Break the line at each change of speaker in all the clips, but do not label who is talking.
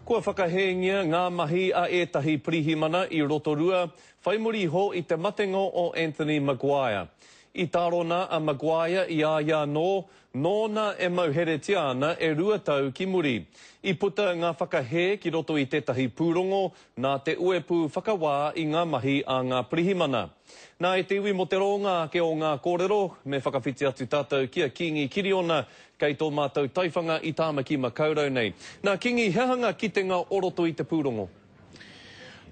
Kua whakahēngia ngā mahi a ētahi pirihimana i Rotorua whai muri iho i te matenga o Anthony Maguire. I tārona a Maguire i a ia anō, nōna e mauheretia ana e rua tau ki muri. I puta ngā whakahē ki roto i tētahi pūrongo nā te uepū whakawā i ngā mahi a ngā pirihimana. Nā, e te iwi mō te rōnga ake o ngā kōrero, me whakawhiti atu tātou ki a Kīngi Kiriona, kei tō mātou taiwhanga i Tāmaki Makaurau nei. Nā, Kīngi, he aha ngā kitenga o roto i te pūrongo?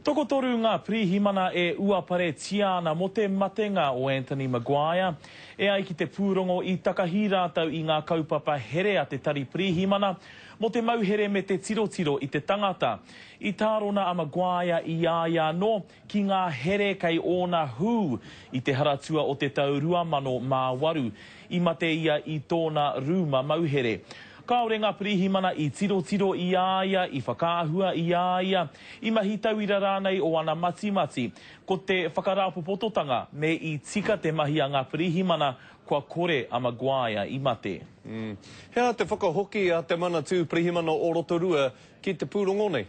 Tokotoru ngā pirihimana e uaparetia ana mō te matenga o Anthony Maguire. E ai ki te pūrongo, i takahi rātou i ngā kaupapa here a te Tari Pirihimana mō te mauhere me te tirotiro i te tangata. I tārona a Maguire i a ia anō, ki ngā here kei ōna hū i te Haratua o te tau 2008, i mate ia i tōna rūma mauhere. Kāore ngā pirihimana i tirotiro i a ia, i whakaahua i a ia, i mahi tauira rānei o ana matimati. Ko te whakarāpopototanga, me i tika te mahi a ngā pirihimana, kua kore a Maguire i mate. He aha te
whakahoki a te Manatū Pirihimana o Rotorua ki te pūrongo nei.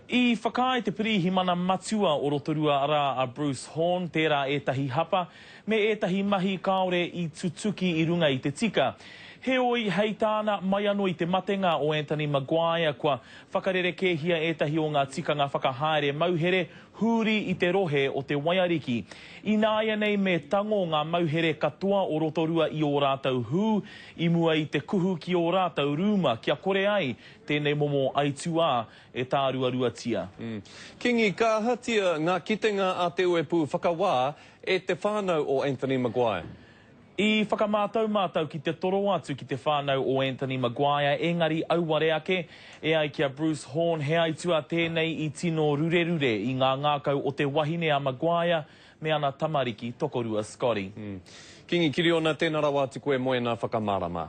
I
whakaae te Pirihimana Matua o Rotorua arā a Bruce Horn tērā ētahi hapa me ētahi mahi kāore i tutuki i runga i te tika. Heoi, hei tāna, mai anō i te matenga o Anthony Maguire kua whakarerekēhia ētahi o ngā tikanga whakahaere mauhere hūri i te rohe o Te Waiariki. Ināianei me tango ngā mauhere katoa o Rotorua i ō rātou hū i mua i te kuhu ki ō rātou rūma kia kore ai Tēnei momo aituā e tāruaruatia. Kingi, ka
ahatia ngā kitenga a Te Uepū Whakawā e te whānau o Anthony Maguire? I
whakamātau mātou ki te toro atu ki te whānau o Anthony Maguire, ēngari auare ake, e ai ki a Bruce Horn, he aituā tēnei i tino rurerure i ngā ngākau o te wahine a Maguire me ana tamariki tokorua
Scotty. Kingi Kiriona,
tēnā
rawa atu koe moena
whakamārama.